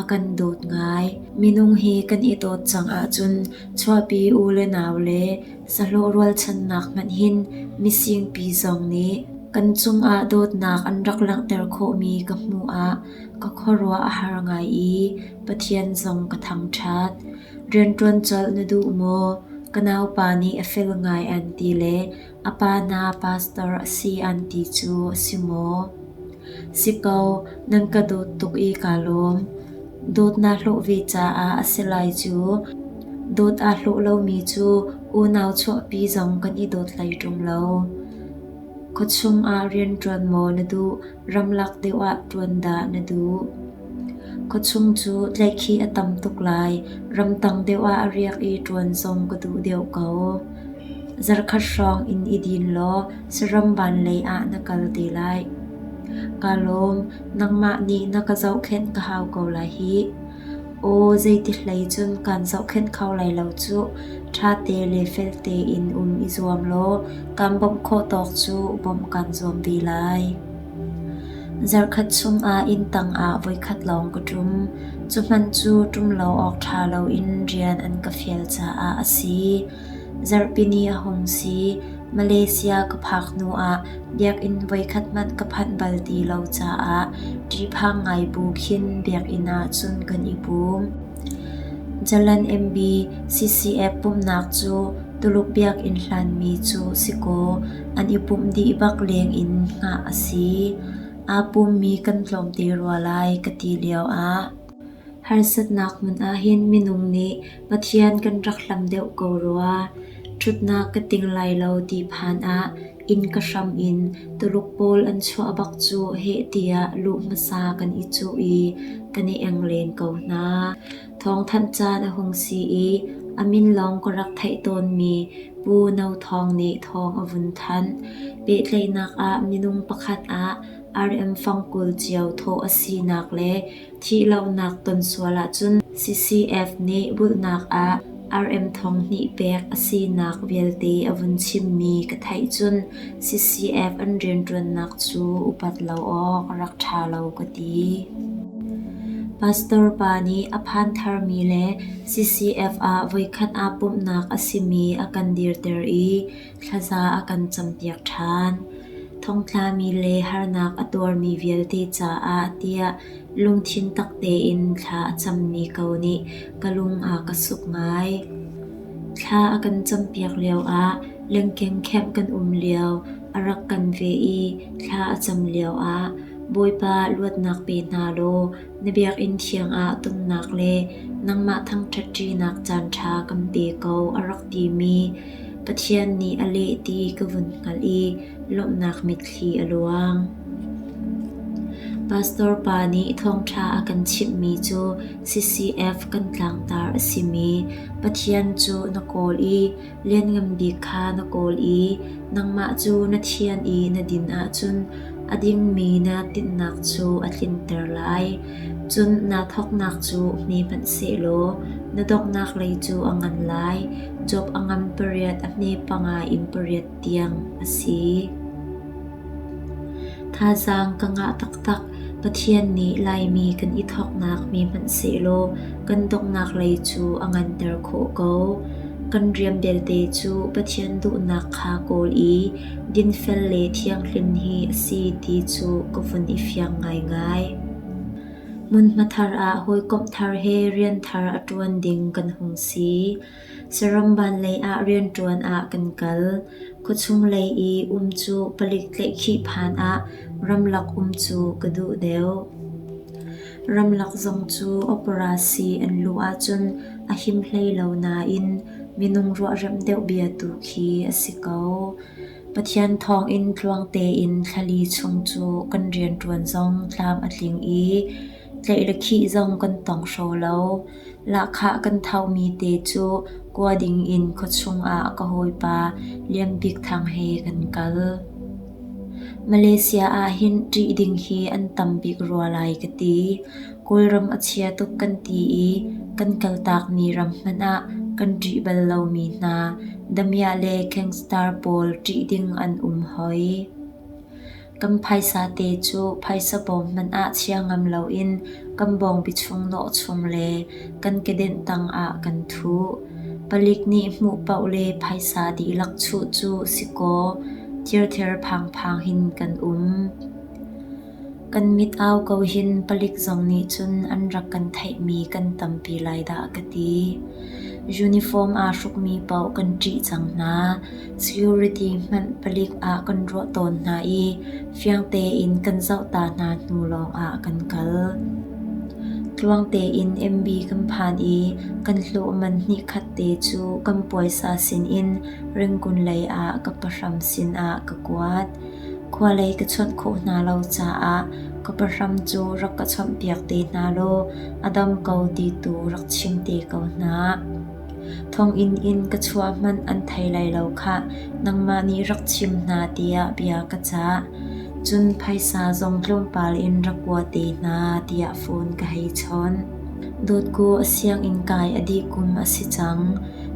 A kan dawt ngai. Minung hi kan i dawt cang ahcun chuahpi u le nau le sahlawh rualchannak hmanh hin misingpi zong nih kan cungah dawtnak an rak langhter khawhmi ka hmuh ah ka khuaruah a har ngai i Pathian zong ka thangṭhat. Rianṭuan colh na duh maw? Ka naupa nih a fel ngai an ti le A pa na pastor a si an ti cu a si maw? Si ko, nan ka dawt tuk i kaa lawm. Dawt naa hlawh ve caah a si lai cu. Dawt aa hlawh lomi cu unau chuahpi zong kan i dawt hlei ṭung lo. Khuachung ah rian ṭuan maw na duh? Ramlak deuh ah ṭuan dah na duh? Khuachung cu tlaihkhih a tam tuk lai. Ramtang deuh ah a riak i ṭuan zong ka duh deuh ko. Zarkhat hrawng in i din law saram van lei ah na kal te lai. Kaa lawm, nangmah nih na ka zohkhenh ka hau ko lai hih. Aw, zeiti hlei cun kan zohkhenh kho lai lo cuh. Ṭha te le fel tein um i zuam law kan bawmh khawh tawk cu bawmh kan zuam ve lai. Zarhkhat chungah inn tangah voikhat lawng ka ṭum. Cuhmanh cu ṭum lo awk ṭha loin rian an ka fial caah a si. Zarhpini a hung si. Malaysia ka phak hnu ah biakinn voikhat hmanh ka phanh bal ti lo caah ṭiphang ngai bu khin biakinn ah cun kan i pum. Jalan MB CCF pumhnak cu Tuluk biakinn hlanmi cu si kaw an i pumh dih bak leng in hngah a si. Aa pummi kan tlawmte rua lai ka ti lio ah Harsatnak hmun ahhin minung nih Pathian kan rak hlam deuh ko rua, ṭhutnak ka ting lai lo ti phan ah inn ka hram in Tuluk pawl an chuah bak cu heh tiah luh hmasa kan i cuh i kan i eng len ko hna. Thawngthanh caan a hung si i a min lawng ka rak theih tawnmi Pu No Thawng nih thawng a vun thanh. Pehtlaihnak ah minung pakhat ah RM fang kul cio thawh a sinak le Thih lonak ton sual ahcun CCF nih bulhnak ah RM thong hnih pek a sinak vialte a vun chimmi ka theih cun CCF an rianṭuannak cu upat lo awk a rak ṭha lo ka ti. Pastor pa nih a phan tharmi le CCF ah voikhat aa pumhnak a simi a kan dirter i Thlaza a kan campiak ṭhan, thongtlami le harnak a tuarmi vialte caah tiah lungthin tak tein thla a cammi ko nih ka lung a ka suk ngai. Thla a kan campiak lioah lengkengkhenh kan um lio a rak kan ve i thla a cam lioah Bawipa luatnak pe hna law Na biakinn thiang ah tumnak le nangmah thangṭhat ṭinak caanṭha kan pe ko a rak timi Pathian nih a leh ti ka vun hngalh i lawmhnak mitthli a luang. Pastor pa nih thawngṭha a kan chimhmi cu CCF kan tlangtar a simi Pathian cu na kawl i Lianngan Bik kha na kawl i nangmah cu na thian i na din ahcun a dingmi na tinhnak cu a tlinter lai. Cun naa thawknak cu hme hmanh seh law na donghnak lei cu a ngan lai, Job a ngam pariat a hme panga in pariat tiang a si. Thazaang ka ngah taktak. Pathian nih Laimi kan i thawknak mi hmanh sehlaw kan donghnak lei cu a nganter khawh ko. Kan rian belte cu Pathian duhnak kha kawl i dinfel le thianghlim hi a si ti cu ka vun i fiang ngaingai. Hmunhma thar ah hawikomh thar he rian thar a ṭuan ding kan hung si. Saramban lei ah rianṭuan ah kan kal. Khuachung lei i um cu palik tlaihkhih phan ah ramlak um cu ka duh deuh. Ramlak zong cu operasi an luh ahcun a him hlei lo nain minung ruahremh deuh bia tu khi a si ko. Pathian thawngin tluang tein thlali chung cu kan rianṭuan zong tlam a tling i Tlaih le khih zong kan tong hro lo. Lahkhah kan thomi te cu kua ding in khuachung ah ka hawipa Lian Bik Thang he kan kal. Malaysia ah hin ṭih ding hi an tam bik rua lai ka ti. Kawlram a chia tuk kan ti i kan kaltak ni ram hmanh ah kan ṭih bal lomi hna damiah le gangstar pawl ṭih ding an um hoi. Kan phaisa te cu phaisa bawm hmanh ah chia ngam loin kan bawngbi chung nawhchum le kan kedenh tangah kan thu. Palik nih hmuh paoh le phaisa dihlak chuh cu si kaw thirthir phangphang hin kan um. Kan mit au ko hin palik zong nih cun an rak kan theihmi kan tampi lai dah ka ti. Uniform aa hrukmi paoh kan ṭih cang hna. Security hmanh palik ah kan ruah tawn hna i fiang tein kan zoh ta hna hnu lawngah kan kal. Tluang tein MB kan phan i kan hlawh man hnihkhat te cu kan puaisa sinin Rangoon lei ah ka pahram sinah ka kuat. Khua lei ka chuat khawh hna lo caah ka pahram cu rak ka chawmhpiak te hna law a dam ko ti tu rak chim te ko hna. Thonginn in ka chuah hmanh an thei lai lo khah, nangmah nih rak chim hna tiah bia ka cah. Cun phaisa zong tlawmpal in rak kuat te hna tiah phone ka hei chawn. Dawtku a sianginn kai a dih kum a si cang.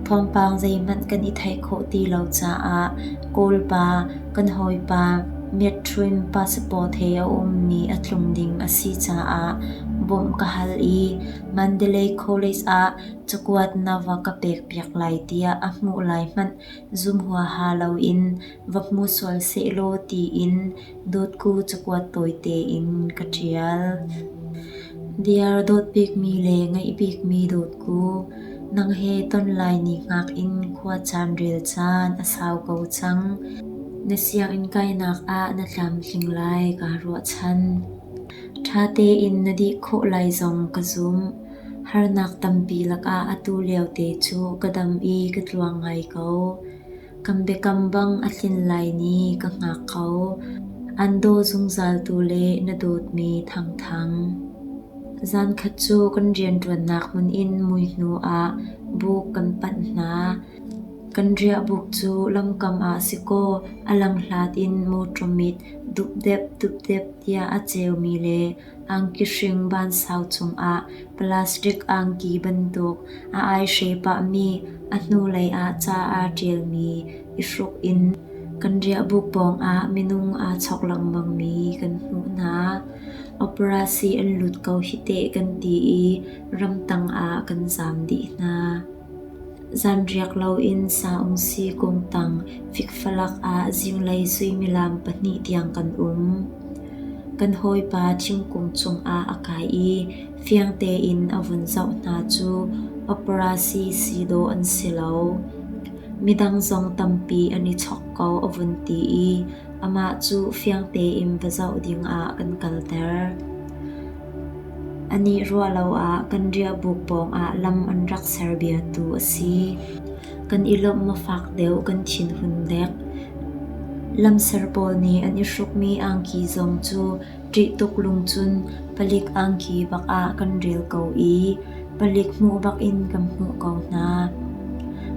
Thawngpang zeihmanh kan i theih khawh ti lo caah Kawlpa, kan hawipa Myettrin passport he a ummi a tlung ding a si caah bawmh ka hal i Mandalay College ah cakuat na va ka pekpiak lai tiah a hmuh lai hmanh zum huaha loin va hmu sual sehlaw tiin dawtku cakuat tawite in ka ṭial. Diar dawt bikmi le ngeih bikmi dawtku, nang he ton lai ni ngak in khua caan rel caan a sau ko cang. Na sianginn kainak ah na tlamtling lai kaa ruahchan. Ṭha tein na dih khawh lai zong ka zumh. Harnak tampi lakah atu liote cu ka dam i ka tluang ngai ko. Kan biakam bang a tlin lai ni ka hngak ko. An daw zungzal tu le na dawtmi thangthang. Zankhat cu kan rianṭuannak hmun in mui hnu ah buk kan panh hna. Kan riahbuk cu lamkam ah si kaw a lamhlat in mawṭaw mit dupdep dupdep tiah a ceumi le Angki hring vansau cungah plastic angki bantuk a aihre pahmi a hnulei ah ca aa ṭialmi i hruk in kan riahbuk pawngah minung aa chawk lengmangmi kan hmuh hna. Operasi an lut ko hi teh kan ti i ramtang ah kan zam dih hna. Zanriak loin sa-ung-si kungtang fikfalak ah zinglei suimilam pahnih tiang kan um. Kan hawipa thingkung cungah a kai i fiang tein a vun zoh hna cu paparazzi si dawh an si lo. Midang zong tampi an i chawk ko a vun ti i Amah cu fiang tein va zoh dingah kan kalter. A nih ruah lo ah kan riahbuk pawngah lam an rak ser biatu a si. Kan i lawmh mafak deuh kan thinhun dek. Lamser pawl nih an i hrukmi angki zong cu ṭih tuk lung cun palik angki bak ah kan rel ko i palik hmuh bakin kan hmuh ko hna.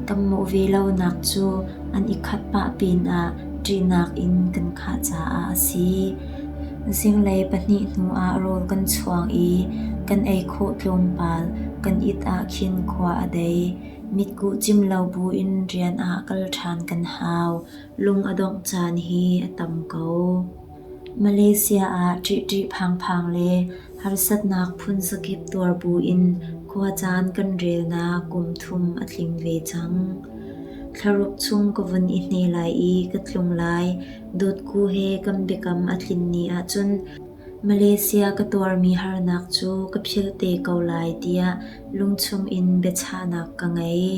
Kan hmuh ve lonak cu an i khat pah pinah ṭihnak in kan khah caah a si. Zinglei pahnih hnuah rawl kan chuang i kan ei khawh tlawmpal kan it ah khin khua a dei. Mitkuh cim lo buin rian ah kal ṭhan kan hau. Lung a dongh caan hi a tam ko. Malaysia ah ṭihṭih phangphang le harsatnak phunzakip tuar buin khuacaan kan relnak kum thum a tling ve cang. Thlaruk chung ka vun i hne lai i ka tlung lai. Dotku he kan biakam a tlin ni ahcun Malaysia ka tuarmi harnak cu ka philh te ko lai tiah lungchung in biachahnak ka ngei.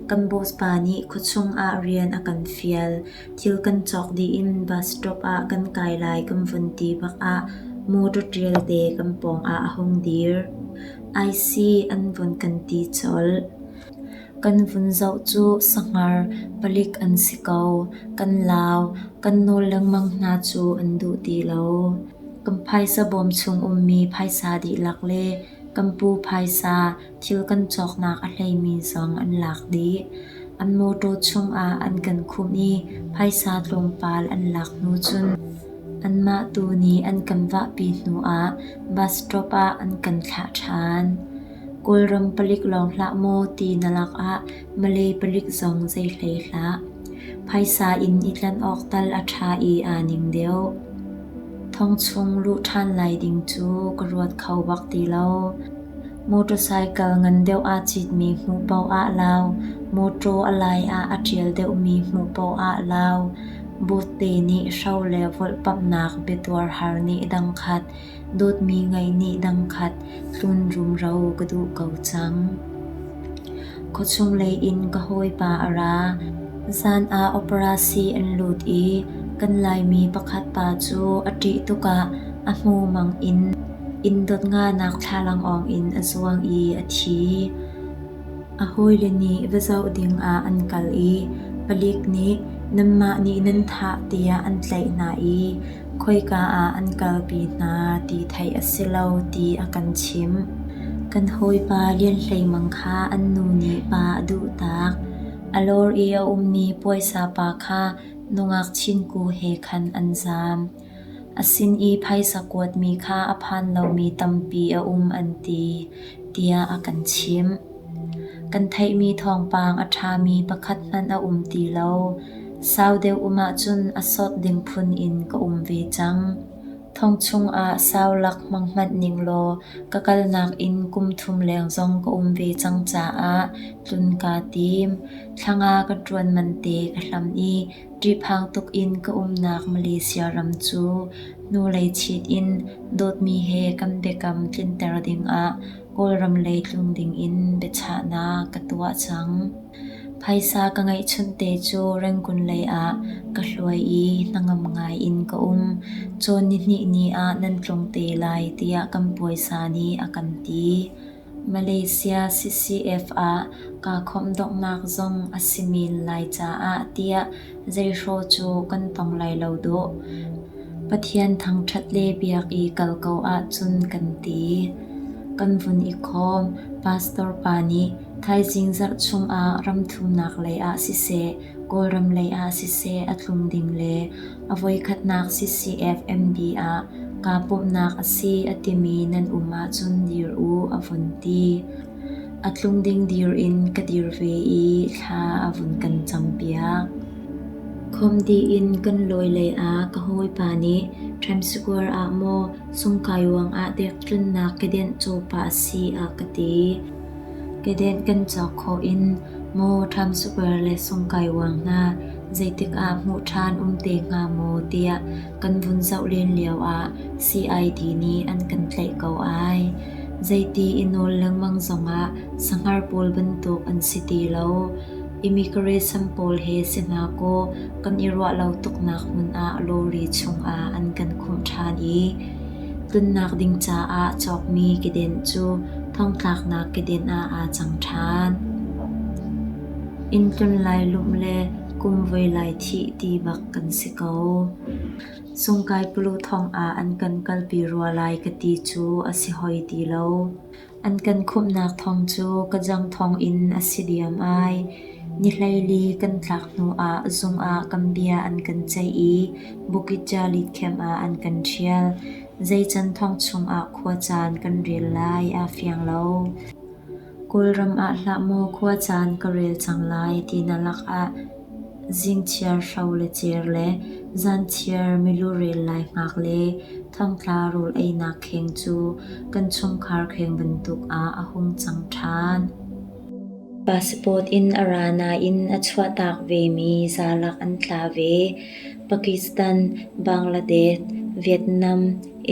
Kan boss pa nih khuachung ah rian a kan fial. Thil kan cawk dih in bus stop ah kan kai lai kan vun ti bak ah motor ṭialte kan pawng ah a hung dir. Ai si an vun kan ti colh. Kan vun zoh cu sanghar palik an si ko. Kan lau, kan nawl lengmang hna cu an duh ti lo. Kan phaisa bawm chung ummi phaisa dihlak le kan pu phaisa Thil kan cawknak a hleimi zong an lak dih. An mawṭaw chungah an kan khumh i phaisa tlawmpal an lak hnu cun anmah tu nih an kan vahpi hnuah bus stop ah an kan thlah ṭhan. Kawlram palik lawng hlah maw ti na lakah Malay palik zong zei hlei hlah. Phaisa in i tlanh awk tal a ṭha i aa ning deuh. Thong chung luh ṭhan lai ding cu ka ruat kho bak ti lo. Motorcycle ngan deuh aa citmi hmuh paoh ah lau, mawṭaw a lai ah a ṭial deuhmi hmuh paoh ah lau, bawtte nih hro le volhpamhnak biatuar har nih dang khat, dawtmi ngei nih dang khat tlunrumro ka duh ko cang. Khuachung lei in ka hawipa a ra. Zan ah operasi an lut i kan Laimi pakhat pa cu a ṭih tuk ah a hmumang in Inn dotngaanak thlalangawng in a zuang i a thi. A hawile nih va zoh ding ah an kal i palik nih nanmah nih nan thah tiah an tlaih hna i khoika ah an kalpi hna ti theih a si lo ti a kan chimh. Kan hawipa Lian Hlei Mang kha an nu nih pa a duhtak. A lawr i a ummi puaisa pa kha nungak chinku he khan an zam. A sin i phaisa kuatmi kha a phan lomi tampi a um an ti tiah a kan chimh. Kan theihmi thawngpang a ṭhami pakhat hmanh a um ti lo. Sau deuh um ahcun a sawt ding phun in ka um ve cang. Thong chungah sau lak hmang hmanh ning law ka kalnak in kum thum leng zong ka um ve cang caah tlun kaa tim. Thlanga ka ṭuan man te ka hlam i Ṭiphang tuk in ka umnak Malaysia ram cu hnulei chit in dawtmi he kan biakam tlinter dingah Kawlram lei tlung dingin biachahnak ka tuah cang. Phaisa ka ngeihchunh te cu Rangoon lei ah ka hluai i hnangam ngai in ka um. Cawn nihnih ni ah nan tlung te lai tiah kan puaisa nih a kan ti. Malaysia CCF ah kaa khawmhdonghnak zong a si men lai caah tiah zeihrawh cu kan tong lai lo dawh. Pathian thangṭhat le biak i kal ko ahcun kan ti. Kan vun i khawm. Pastor pa nih thaizing zarh chungah ramthunak lei ah siseh, Kawlram lei ah siseh a tlung ding le A voikhatnak CCFMD ah kaa pumhnak a si a timi nan um ahcun dir u a vun ti. A tlung ding dir in ka dir ve i thla a vun kan campiak. Khom dih in kan lawi lei ah ka hawipa nih Times Square ah maw sungkai ruang ah dek tlunnak ka denh copa a si a ka ti. Kedenh kan cawk khawh in maw Times Square le Sungkai Uang hna zeitikah hmuh ṭhan um te hnga maw tiah kan vun zoh len lioah CID nih an kan tlaih ko ai. Zeiti i nawl lengmang zongah sanghar pawl bantuk an si ti lo. Immigration pawl he si hna kaw kan i ruah lo tuknak hmun ah lorry chungah an kan khumh ṭhan i Tlunnak ding caah cawkmi kedenh cu thongtlaknak kedenh ah aa cang ṭhan. Inn tlun lai lum le kum voi lai thih ti bak kan si ko. Sungkai pulu thong ah an kan kalpi rua lai ka ti cu a si hoi ti lo. An kan khumhnak thawng cu ka jang thawng in a si diam ai. Ni hleili kan tlak hnuah zung ah kan bia an kan ceih i Bukit Jallit camp ah an kan ṭhial. Zeican thawng chungah khuacaan kan rel lai aa fiang lo. Kawlram ah hlah maw khuacaan ka rel cang lai ti na lakah Zingchiar hro le cer le zanchiar milurel laihngak le thongtla rawl einak kheng cu kan chungkhar kheng bantuk ah a hung cang ṭhan. Passport in a ra nain a chuahtak vemi zalak an tla ve. Pakistan, Bangladesh, Vietnam,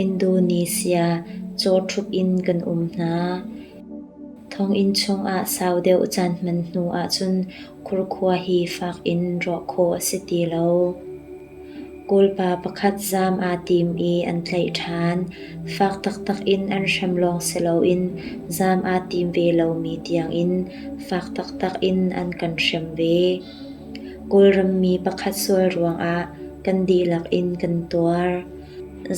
Indonesia cawṭhup in kan um hna. Thonginn chung ah sau deuh caan hman hnu ahcun Khurkhua hi fak in rawh khawh a si ti lo. Kawlpa pakhat zaam aa tim i an tlaih ṭhan. Fak taktak in an hrem lawng si loin zaam aa tim ve lomi tiangin fak taktak in an kan hrem ve. Kawlrammi pakhat sual ruangah kan dihlak in kan tuar.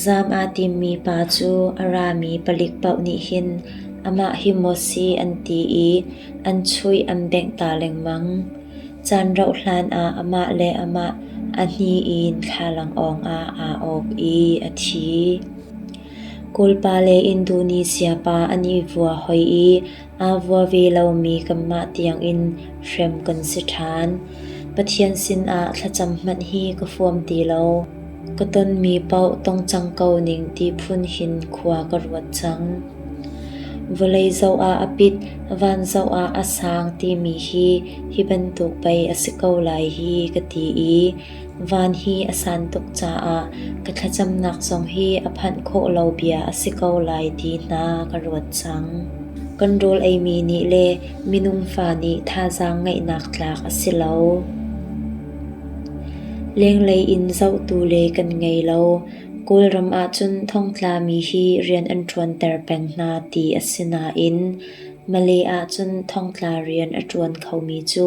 Zaam aa timmi pa cu a rami palik paoh nih hin amah hi maw si an ti i an chuih an bengh ta lengmang. Caan rauh hlan ah amah le amah a hni in thlalangawng ah aa awk i a thi. Kawlpa le Indonesiapa an i vua hoi i Aa vua ve lomi kanmah tiangin hrem kan si ṭhan. Pathian sinah thlacam hmanh hi ka huam ti lo. Ka tonmi paoh tong cang ko ning ti phun hin khua ka ruat cang. Vawlei zoh ah a pit, van zoh ah a sang timi hi hi bantuk pei a si ko lai hi ka ti i Van hi a san tuk caah ka thlacamnak zong hi a phanh khawh lo bia a si ko lai ti hna ka ruat cang. Kan rawl eimi nih le minung fa nih thazaang ngeihnak tlak a si lo. Lenglei in zohtu le kan ngei lo. Kawlram ahcun thongtlami hi rian an ṭuanter peng hna ti a si nain Malay ahcun thongtla rian a ṭuan khomi cu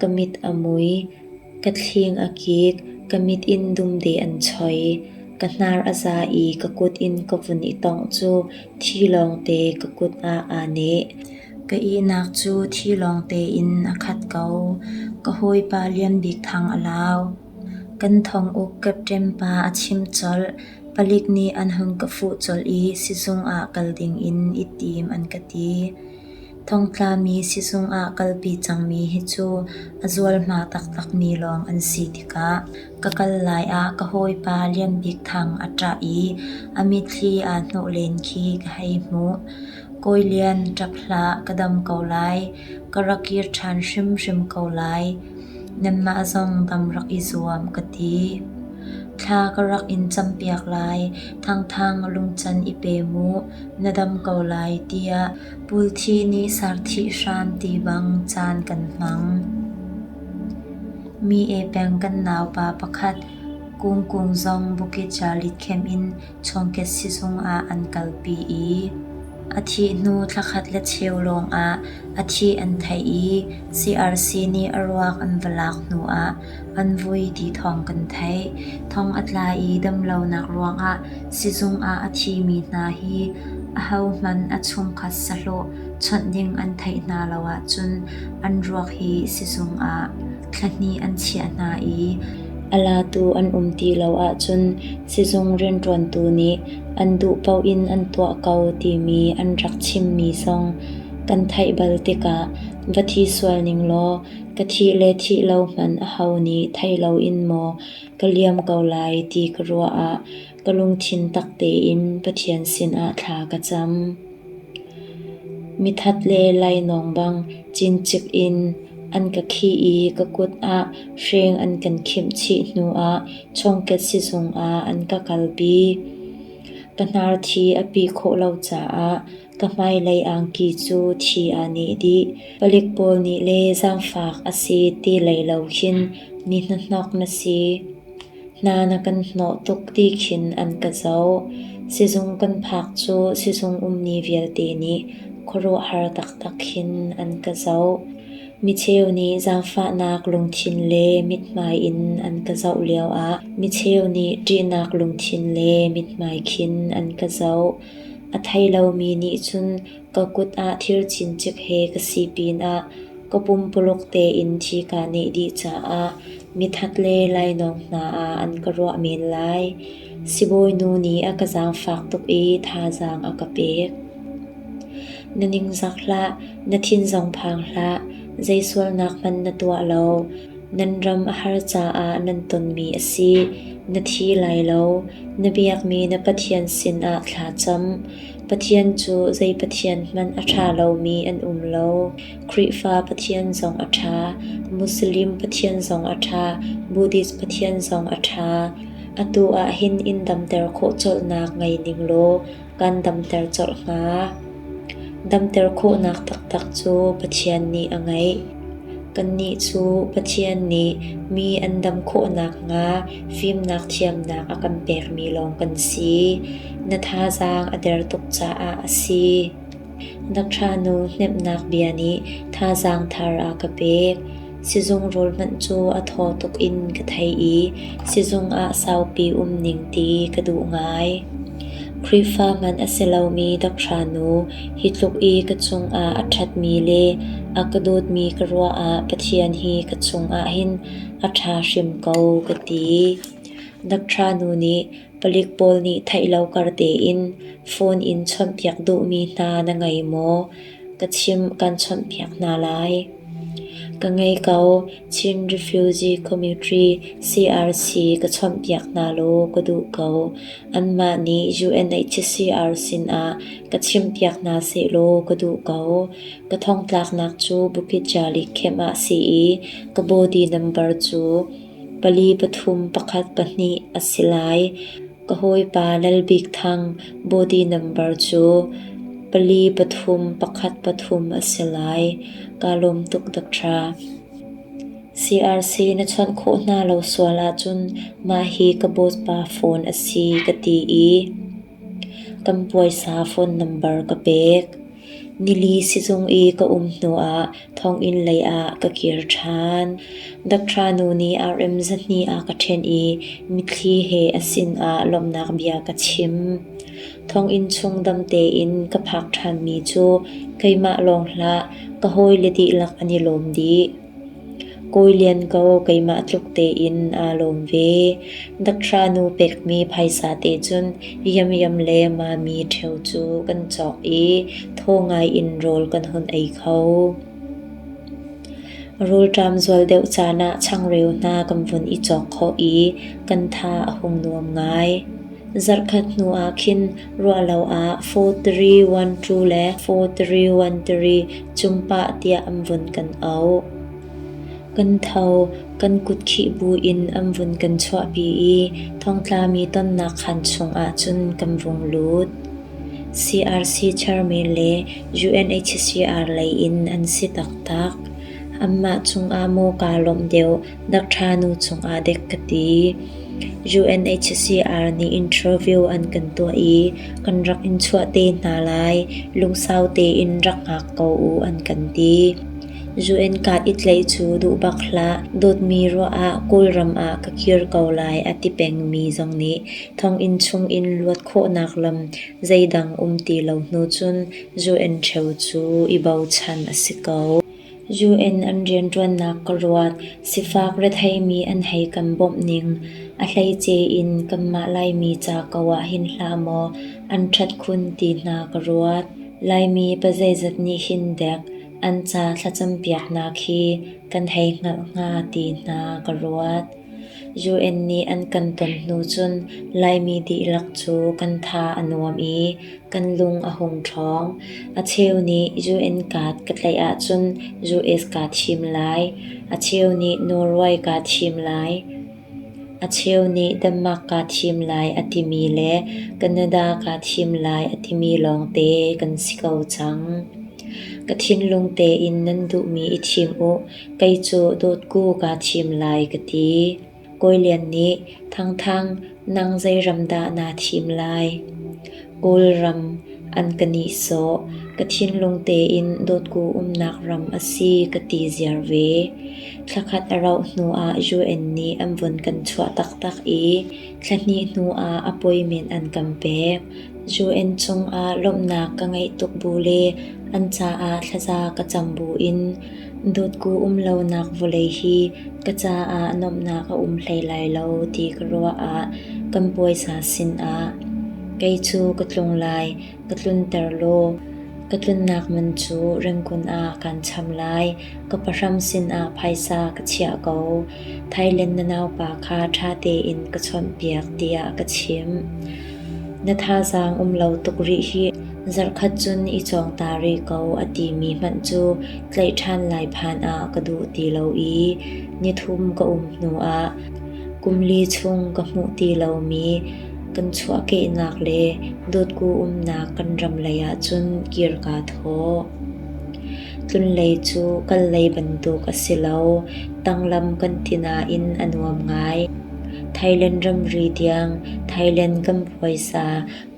Ka mit a mui, ka thling a kik, ka mit in dumde an choi. Ka hnar a za i ka kut in ka vun i tongh cu thi lawngte ka kut ah aa neh. Ka ihnak cu thi lawngte in a khat ko. Ka hawipa Lianbik Thang a lau. Kan thonguk capṭem pa a chim colh. Palik nih an hung ka fuh colh i sizung ah kal ding in i tim an ka ti. Thongtlami sisung ah kalpi cangmi hi cu a zualhma taktakmi lawng an si tikah ka kal lai ah ka hawipa Lianbik Thang a ṭah i a mitthli aa hnawh len khi ka hei hmuh. Kawi Lian ṭap hlah ka dam ko lai, ka rak kir ṭhan hrimhrim ko lai, nanmah zong dam rak i zuam ka ti. Thla ka rak in campiak lai, thangthang lungcan i pe mu, na dam ko lai tiah Pulthi nih sarthih hram ti bang caan kan hmang. Mi ee peng kan naupa pakhat kungkung zong bukicalit khem in chawngket sizung ah an kalpi i a thih hnu thlakhat le cheu lawngah a thih an theih i CRC nih a ruak an va lak hnuah An vui ti thawng kan theih. Thong a tla i damlonak ruangah sizung ah a thimi hna hi ahohmanh a chungkhat sahlawh chawnh ding an theih hna lo ahcun an ruak hi sizung ah thla hnih an chiah hna i a latu an um ti lo ahcun sizung rianṭuantu nih an duh paoh in an tuah ko timi an rak chimmi zong kan theih bal tikah va thi sual ning law Ka thih le thih lo hmanh aho nih thei loin maw ka liam ko lai ti ka ruah ah ka lungthin tak tein Pathian sinah thla ka cam. Mithat le lainawng bang cincik in an ka khih i ka kut ah hreng an kan khimh chih hnu ah chawngket sizung ah an ka kalpi. Ka hnar thi a pi khawh lo caah Ka hmailei angki cu thi a nih dih, palik pawl nih le zaangfak a si ti lei lo khin mi hnahnawk na si. Hna na kan hnawh tuk ti khin an ka zoh. Sizung kan phak cu sizung ummi vialte nih khuaruahhar taktak khin an ka zoh. Micheu nih zaangfahnak lungthin le mithmai in an ka zoh lioah micheu nih ṭihnak lungthin le mithmai khin an ka zoh. A thei lomi nih cun ka kut ah thir cincik he ka si pinah ka pumpuluk tein thi kaa neh dih caah mithat le lainawng hna ah an ka ruah men lai. Sibawi nu nih a ka zaangfak tuk i thazaang a ka pek. Na ningzak hlah, na thin zong phang hlah, zei sualnak hmanh na tuah lo. Nan ram a har caah nan tonmi a si. Na thi lai lo. Na biakmi na Pathian sinah thla cam. Pathian cu zei pathian hmanh a ṭha lomi an um lo. Khrihfa Pathian zong a ṭha. Muslim Pathian zong a ṭha. Buddhist Pathian zong a ṭha. Atu ah hin in damter khawh colhnak ngei ning law kan damter colh hnga. Damter khawhnak taktak cu Pathian nih a ngeih. Kannih cu Pathian nih mi an dam khawh nakhnga fimnak thiamnak a kan pekmi lawng kan si. Na thazaang a der tuk caah a si. Na ṭhanu hnemhnak bia nih thazaang thar a ka pek. Sizung rul hmanh cu a thaw tuk in ka thei i sizung ah saupi um ning ti ka duh ngai. Khrihfa man a si lomi ka ṭhanu hi tluk i ka cungah a ṭhatmi le a ka dawtmi ka ruahah Pathian hi ka chungah hin a ṭha hrim ko ka ti. Na ṭhanu nih Palik pawl nih theih lo kar tein phone in chawnhpiak duhmi hna na ngei maw? Ka chimh kan chawnhpiak hna lai. Ka ngei ko. Chin Refugee Community CRC ka chawnhpiak hna law ka duh ko. Anmah nih UNHCR sinah ka chimpiak hna seh law ka duh ko. Ka thongtlaknak cu Bukitjali camp ah si i ka body number cu Pali pathum pakhat pahnih a si lai. Ka hawipa Lalbikthang body number cu pali pathum pakhat pathum a si lai. Kaa lawm tuk Doctor. CRC na chawnh khawh hna lo sual ahcun mah hi ka Bawipa phone a si ka ti i. Kan puaisa phone number ka pek. Nili sizung i ka um hnuah thonginn leiah ka kir ṭhan. Dakṭhanu nih RM zahnih a ka ṭhen i mitthli he a sinah lawmhnak bia ka chim. Thonginn chung dam tein ka phak ṭhanmi cu keimah lawng hlah ka hawile dihlak an i lawm dih. Kawi Lian ko, keimah tluk tein aa lawm ve. Dakra nu pekmi phaisa te cun Yamyam le Mami ṭheo cu kan cawk i tho ngaiin rawl kan hun ei kho. Rulṭam zual deuh caan ah changreu hna kan vun i cawk khawh i kan tha a hung nuam ngai. Zarhkhat hnu ah khin ruahlo ah 4-3-1-2 le 4-3-1-3 Cung pah tiah an vun kan auh. Kan tho, kan kut khih buin an vun kan chuahpi i thongtlami tonnak khan chungah cun kan vung lut. CRC chairman le UNHCR lei in an si taktak. Anmah cungah maw kaa lawmh deuh Doctor nu chungah dek ka ti. UNHCR nih interview an kan tuah i kan rak in chuah te hna lai, lungsau tein rak hngak ko u an kan ti. UN kat i tlei cu duh bak hlah, dawtmi ruah ah Kawlram ah ka kir ko lai a ti pengmi zong nih thonginn chung in luat khawhnak lam zeidang um ti lo hnu cun UN cheu cu i bochan a si ko. UN an rianṭuannak ka ruat, sifak retheimi an hei kan bawmh ning, a hleice in kanmah Laimi ca ko ah hin hlah maw an ṭhat khun ti hna ka ruat. Laimi pa zeizat nih hin dek an ca thlacampiaknak hi kan hei hngalh hnga ti hna ka ruat. UN nih an kan ton hnu cun Laimi dihlak cu kan tha a nuam i kan lung a hung ṭhawng. A cheu nih UN card ka tlaih ahcun US kaa thim lai. A cheu nih Norway kaa thim lai. A cheu nih Denmark kaa thim lai a timi le Canada kaa thim lai a timi lawngte kan si ko cang. Ka thinlung tein nan duhmi i thim u. Kei cu dawtku kaa thim lai ka ti. Kawi Lian nih Thangthang nang zeiram dah naa thim lai? Kawlram an ka nihsawh. Ka thinlung tein dawtku umnak ram a si ka ti ziar ve. Thla khat a rauh hnuah UN nih an vun kan chuah taktak i thla hnih hnuah appointment an kan pek. UN cungah lawmhnak ka ngeih tuk bu le an caah thlaza ka cam buin Dotku um lonak vawlei hi ka caah nuamhnak a um hlei lai lo ti ka ruah ah kan puaisa sinah kei cu ka tlung lai, ka tlunter law ka tlunnak man cu rinkun ah kaan cham lai. Ka pahram sinah phaisa ka chiah ko. Thailand na naupa kha ṭha tein ka chawnhpiak tiah ka chim. Na thazaang um lo tuk rih hih, zarhkhat cun i cawng ta rih ko a timi hmanh cu tlaih ṭhan lai phan ah ka duh ti lo i nithum ka um hnu ah kum li chung ka hmuh ti lomi kan chuahkehnak le dotku umnak kan ram lei ahcun kir kaa thaw. Tlunlei cu kan lei bantuk a si lo, tanglam kan ti nain a nuam ngai. Thailand ramri tiang Thailand kan puaisa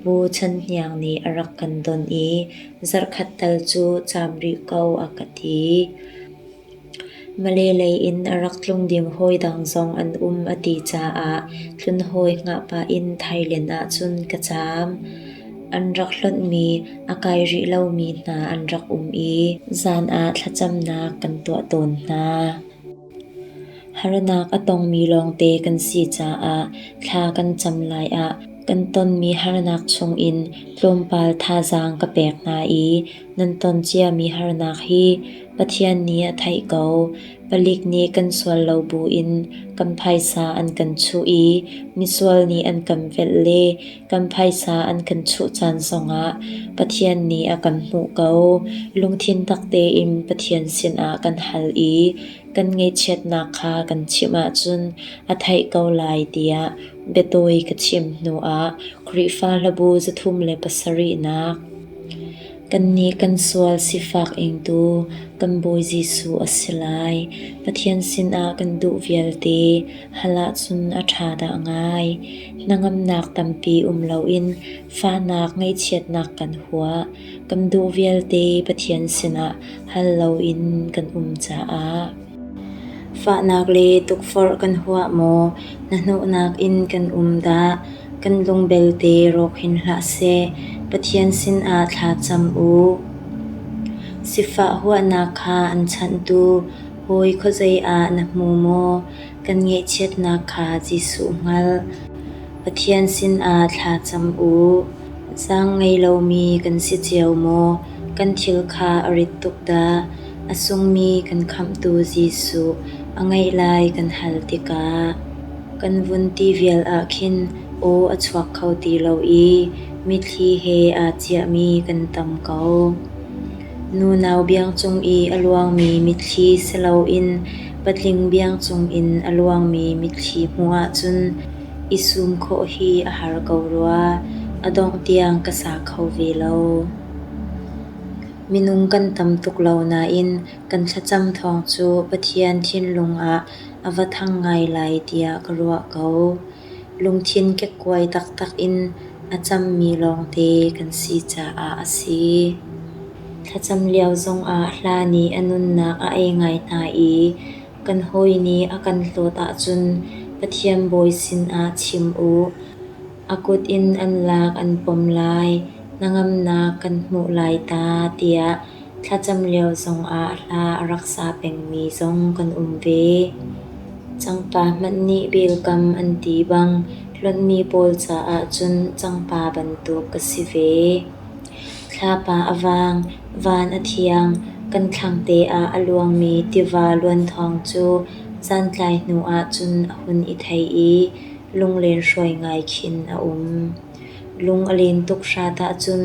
Pu Chan Hniang nih a rak kan don i zarhkhat tal cu caam rih ko a ka ti. Male lei in a rak tlungdim hawi dang zong an um a ti caah hlunhawi hngah pah in thailen ahcun ka caam. An rak hlonhmi a kai rih lomi hna an rak um i zan ah thlacamnak kan tuah tawn hna. Harnak a tongmi lawngte kan si caah thla kan cam lai ah kan tonmi harnak chungin tlawmpal thazaang ka pek hna i nan ton ciami harnak hi Pathian nih a theih ko, palik nih kan sual lo buin kan phaisa an kan chuh i misual nih an kan velh le kan phaisa an kan chuh caan zongah Pathian nih a kan hmuh ko. Lungthin tak tein Pathian sinah kan hal i kan ngaihchiatnak kha kan chimh ahcun a theih ko lai tiah biatawi ka chim hnuah Khrihfa Hlabu zathum le pasarihnak Kannih kan sual sifak ingtu kan Bawi Jesuh a si lai. Pathian sinah kan duh vialte hal ahcun a ṭha dah ngai. Hnangamnak tampi um loin fahnak ngaihchiatnak kan huah. Kan duh vialte Pathian sinah hal loin kan um caah. Fahnak le tukforh kan huah maw? Na hnawhnak in kan um dah? Kan lung belte rawk hin hlah seh, Pathian sinah thla cam u. Sifah huahnak kha an chanhtu, Hawi khuazei ah na hmu maw? Kan ngaihchiatnak kha Jesuh hngal, Pathian sinah thla cam u. Sang ngei lomi kan si cio maw? Kan thil kha a rit tuk dah? A sungmi kan Khamhtu Jesuh a ngeih lai kan hal tikah kan vun ti vial ah khin aw a chuak kho ti lo i mitthli he aa ciahmi kan tam ko. Nunau biang cung i a luangmi mitthli si loin patling biang cungin a luangmi mitthli hmuh ahcun i sum khawh hi a har ko rua, a dongh tiang ka sa kho ve lo. Minung kan tam tuk lo nain kan thlacam thawng cu Pathian thinlung ah a va thang ngai lai tiah ka ruah ko. Lungthin kekkuai taktak in a cammi lawngte kan si caah a si. Thlacam lio zongah hla nih a nunnak a ei ngai hna i kan hawi nih a kan hlawt ahcun Pathian Bawi sinah chim u. A kut in an lak an pom lai, hnangamnak kan hmuh lai ta tiah thlacam lio zongah hla a rak sa pengmi zong kan um ve. Cangpa hmanh nih bilkam an ti bang hlonmi pawl caah cun cangpa bantuk ka si ve. Thlapa a vang, van a thiang, kan thlangte ah a luangmi tiva luan thawng cu zantlai hnuah cun a hun i thei i Lunglen hruai ngai khin a um. Lung a len tuk hrat ahcun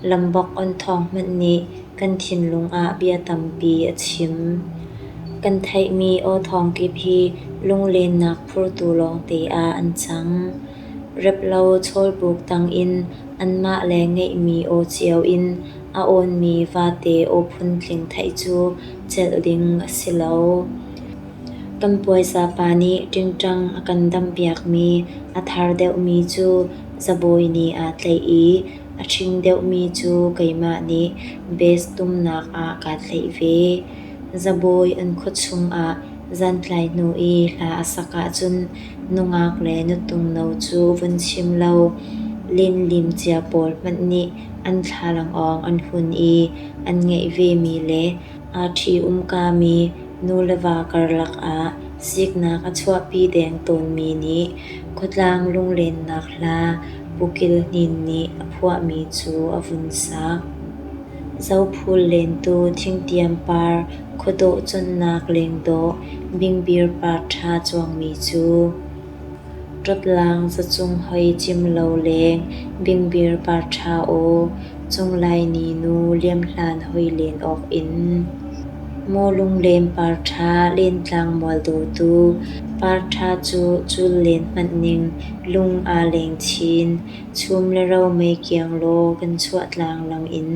lambok on thawng hmanh nih kan thinlung ah bia tampi a chim. Kan theihmi aw thawng kip hi lunglennak phurtu lawngte ah an cang. Rep lo chawlbuk tangin anmah le ngeihmi aw cio in a awnmi vate aw phun tling theih cu celh ding a si lo. Kan puaisa pa nih ṭingṭang a kan dampiakmi a thar deuhmi cu zabawi ni aa tlaih i a ṭhing deuhmi cu keimah nih bes tumnak ah kaa tlaih ve. Zabawi an khuachung ah zan tlai hnu i hla a sak ahcun nungak le nutung no cu vun chim lo linlim cia pawl hmanh nih an thlalangawng an hun i an ngeih vemi le aa ṭhi-umkami Nu le va karlak ah siknak a chuahpi deng tawnmi nih khuatlang lunglennak hla Pukil Hnin nih a phuahmi cu a vun sak. Zophul lentu thingtiam par khuadawh connak lengdawh bingbir par ṭha cuangmi cu. Ṭaplang zacung hoi cim lo leng bingbir par ṭha aw, Cung Laini nu liamhlan hoi len awk in. Maw lunglem par ṭha lentlang mual dawtu, Par ṭha cu cul len hmanh ning lung aa leng chin, Chum le ro mei kiang law kan chuah tlanglang in.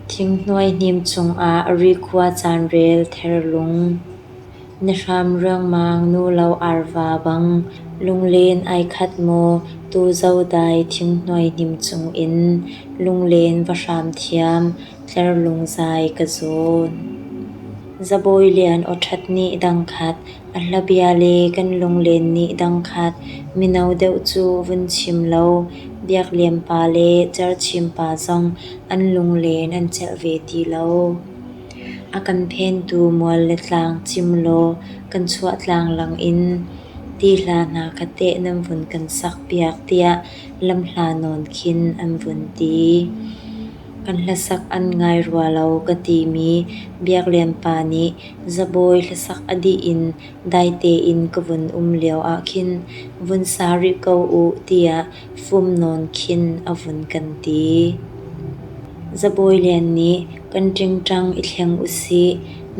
Thing hnuai hnim cung ah ri khua caan rel ther lung. Na hram ruangmang nulo arva bang lunglen ai khat maw tu zodai thinghnuai hnim cungin lunglen va hram thiam tlerlung zai ka zawn. Zabawi lian aw ṭhat nih dangkhat a hlabia le kan lunglen nih dangkhat mino deuh cu vun chim law biakliam pa le cerchim pa zong an lunglen an celh ve ti lo. A kan phentu mual le tlang cim law kan chuah tlanglang in ti hla hna kha teh nan vun kan sakpiak tiah lamhla nawn khin an vun ti. Kan hlasak an ngai rua lo ka timi biaklian pa nih zabawi hlasak a dih in dai tein ka vun um lio ahkhin vun sa rih ko u tiah Fum nawn khin a vun kan ti. Zabawi lian nih kan ṭingṭang i thleng u sih,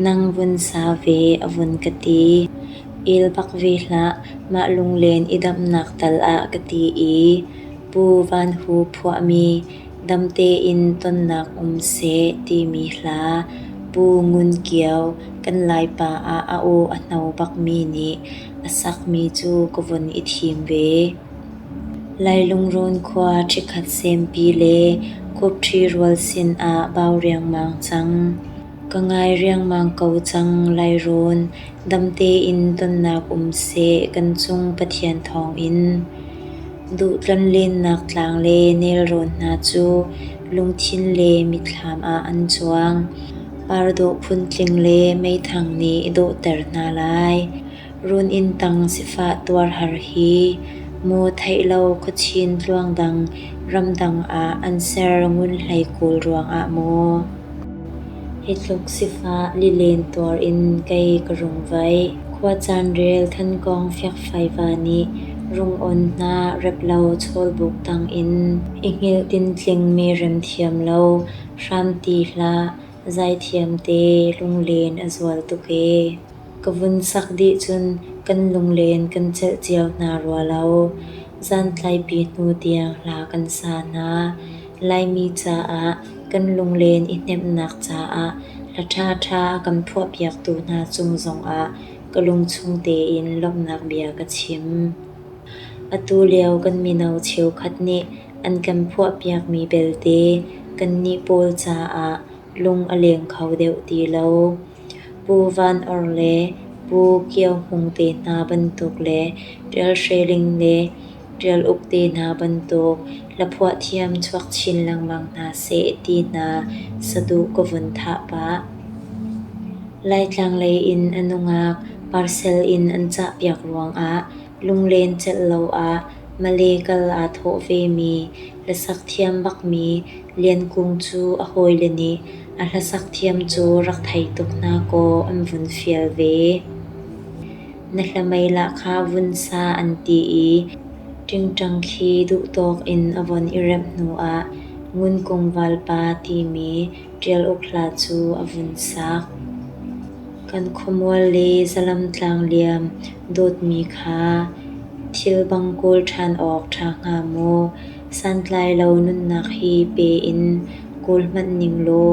nang vun sa ve a vun ka ti. El bak ve hlah, mah lunglen i damnak tal ah ka ti i, Pu Van Hu phuahmi dam tein tonnak um seh timi hla, Pu Ngun Kio kan Laipa ah a aw a hno bakmi nih a sakmi cu ka vun i thim ve. Leilungrun khua ṭhikhat sempi le khuapṭhi rual sinah bau riangmang cang. Ka ngai riangmang ko cang, leirun. Dam tein tonnak um seh, kan cung Pathian thawngin. Duh tlonlennak tlang le nelrawn hna cu lungthin le mitthlam ah an cuang. Par dawh phun tling le meithang nih dawhter hna lai. Run-inn tang sifah tuarhar hi mu theih lo khuachin tluangdang ramdang ah an ser ngun hlei kawl ruangah maw? Hi tluk sifah lilen tuar in kei ka rung vaih. Khua caan rel thankawng fiakfaiva nih rung-on hna rep lo chawlbuk tang in i hngilh tintling-mi rem thiam lo hramti hlah zaithiam te lunglen a zual tuk ee. ka vun sak dih cun kan lunglen kan celh cio hna rua lo. Zantlaipi hnu tiang hla kan sa hna. Laimi caah kan lunglen i hnemhnak caah hla ṭhaṭha a kan phuahpiaktu hna cung zongah ka lungchung tein lawmhnak bia ka chim. Atu lio kan mino cheukhat nih an kan phuahpiakmi belte kannih pawl caah lung a leng kho deuh ti lo. Pu Van Or le Pu Kio Hmung te hna bantuk le Ṭial Hre Ling le Ṭial Uk te hna bantuk hlaphuah thiam chuak chin lengmang hna seh ti hna saduh ka vun thah pah. Laitlang lei in a nungak parcel in an cah piak ruangah lunglen celh lo ah Malay kal aa thawh vemi hlasak thiam bakmi Lian Kung cu a hawile nih a hlasak thiam cu rak thei tuk hna kaw an vun fial ve. Na hlamei lah kha vun sa an ti i ṭingṭang khi duhtawk in a von i remh hnuah Ngunkung valpa timi ṭial uk hla cu a vun sak. Kan khuamual le zalam tlang liam dawtmi kha thil bang kawl ṭhan awk ṭha hnga maw? Santlailo nunnak hi pe in kawl hmanh ning law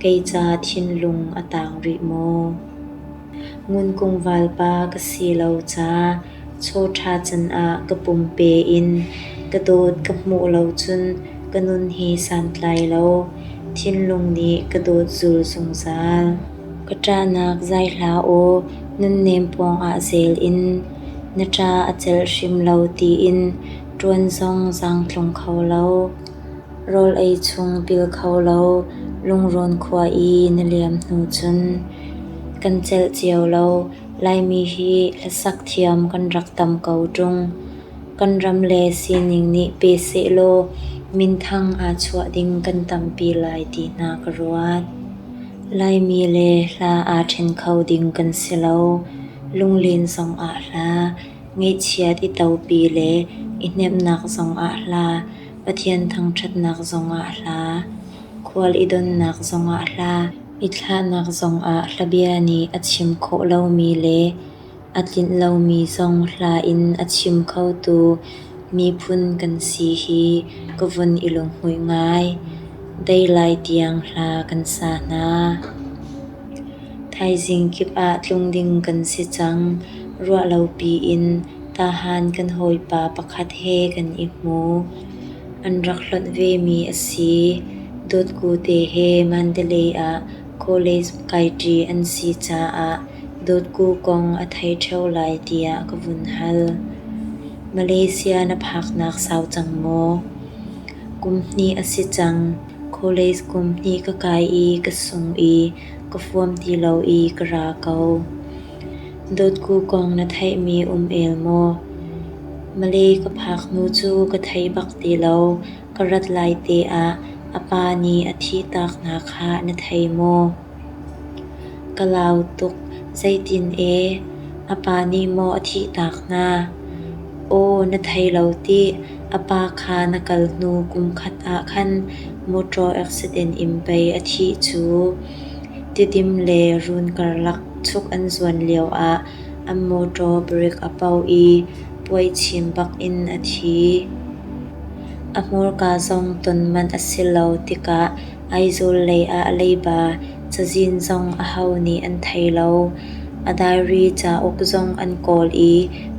kei ca thinlung a tang rih maw? Ngunkung valpa ka si lo ca chaw ṭha canah ka pumpe in ka dawt ka hmuh lo cun ka nun hi santlai lo thinlung nih ka dawt zul zungzal. Ka ṭahnak zai hlah aw nunnem pawngah zel in na ṭa a celh hrim lo tiin ṭuan zong zaang tlung kho lo, rawl ei chung pil kho lo, lungrawn khua i na liam hnu cun kan celh cio lo. Laimi hi hlasak thiam kan rak tam ko ṭung. Kan ram le sining nih pe sehlaw minthang aa chuah ding kan tampi lai ti hna ka ruat. Laimi le hla aa ṭhen kho ding kan si lo. Lunglin zong ah hla Ngeihchiat i topi le i hnemhnak zongah hla, Pathian thangṭhatnak zongah hla, Khual i donnak zongah hla, I thlahnak zongah hlabia nih a chim khawh lomi le a tlinh lomi zong hla in a chim khotu miphun kan si hi ka vun i lunghmuih ngai. Dei lai tiang hla kan sa hna. Thaizing kip ah tlung ding kan si cang, ruahlo piin tahan kan hawipa pakhat he kan i hmu. An rak hlonh vemi a si. Dawtkute he Mandalay ah college kai ṭi an si caah dawtku kong a thei ṭheo lai tiah ka vun hal. Malaysia na phaknak sau cang maw? Kum hnih a si cang. College kum hnih ka kai i ka sung i ka fuam ti lo i ka ra ko. Dotku kong na theihmi um el maw? Malay ka phak hnu cu ka thei bak ti lo. Ka rat lai te ah a pa nih a thih tak hna kha na thei maw? Ka lau tuk zeitin ee a pa nih maw a thih tak hna? Aw na thei lo tih a pa kha na kal hnu kum khat ah khan motor accident in pei a thih cu. Tidim le run karlak chuk an zuan lio ah an motor brake a pau i puai chin bak in a thi. A hmurka zong ton manh a si lo tikah Aizawl lei ah leiba cazin zong aho nih an thei lo. A diary cauk zong an kawl i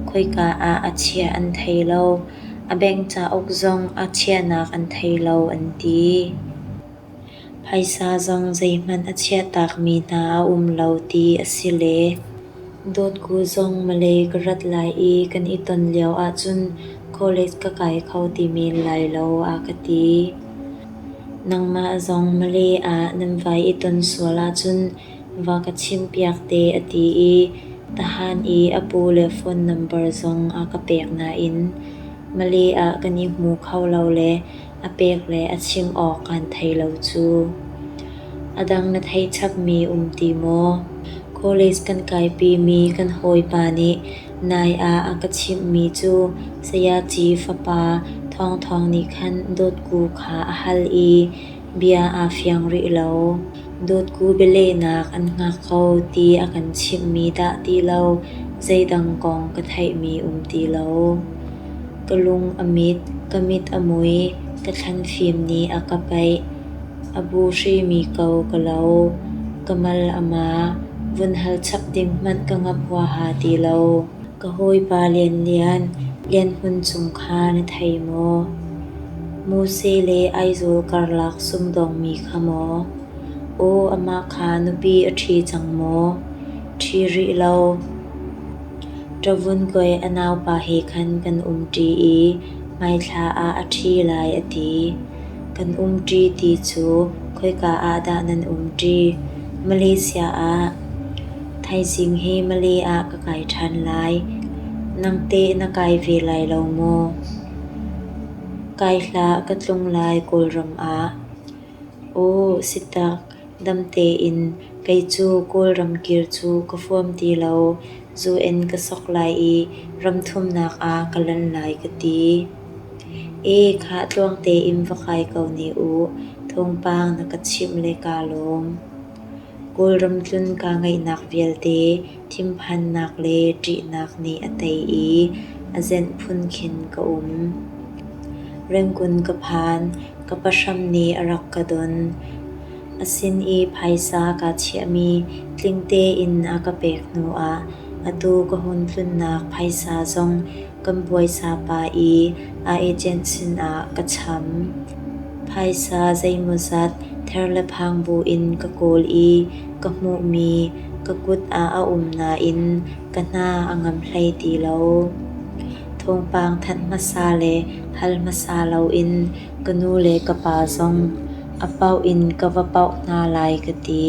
khoika ah a chiah an thei lo. A bank cauk zong a chiahnak an thei lo an ti. Phaisa zong zeihmanh a chiahtakmi hna a um lo ti a si le. Dawtku zong Malay ka rat lai i kan i ton lio ahcun college ka kai kho ti men lai lo a ka ti. Nangmah zong Malay ah nan vai i ton sual ahcun va ka chimpiak te a ti i tahan i a pu le phone number zong a ka pek nain Malay ah kan i hmu kho lo le a pek le a chim awk kan thei lo cu. A dang na thei chapmi um ti maw? College kan kaipimi kan hawipa nih nai ah a ka chimhmi cu Sayaci fapa Thawng Thawng nih khan dawtku kha a hal i bia aa fiang rih lo. Dawtku bialehnak an hngak kho ti a kan chimhmi dah ti lo zeidang kong ka theihmi um ti lo. Ka lung a mit, ka mit a mui, ka thlanfim nih a ka paih. A bu hrimi ko ka lo, ka mal a ma, vun hal chap ding hmanh ka ngap huaha ti lo. Ka hawipa lianlian, lianhmun cung kha na thei maw? Muse le Aizawl karlak sumdawngmi kha maw? Aw, amah kha nupi a ṭhi cang maw? Ṭhi rih lo. Ṭavun koi a naupa he khan kan umṭi i hmaithla ah a ṭhi lai a ti. Kan umṭi ti cu khoika ah dah nan umṭi? Malaysia ah. Thaizing hi Malay ah ka kai ṭhan lai. Nangte na kai ve lai lo maw? Kai hlah ka tlung lai Kawlram ah. Aw, si tak. Dam tein kei cu Kawlram kir cu ka huam ti lo. Zu in ka sok lai i ramthumnak ah ka lan lai ka ti. E khah tluang tein va kai ko ne u. Thawngpang na ka chimh le kaa lawm. Kawlram tlun kaa ngaihnak vialte thinphannak le ṭihnak nih a tei i a zenh phun khin ka um. Rengkun ka phan, ka pahram nih a rak ka don. A sin i phaisa kaa chiahmi tling tein a ka pek hnuah atu ka hun tlunnak phaisa zong kan buaisa pa i a agent sinah ka cham. Phaisa zeimawzat ther le phang buin ka kawl i ka hmuhmi ka kut ah a um nain ka hna a ngam hlei ti lo. Thawngpang thanh hmasa le hal hmasa loin ka nu le ka pa zong a pauh in ka va pauh hna lai ka ti.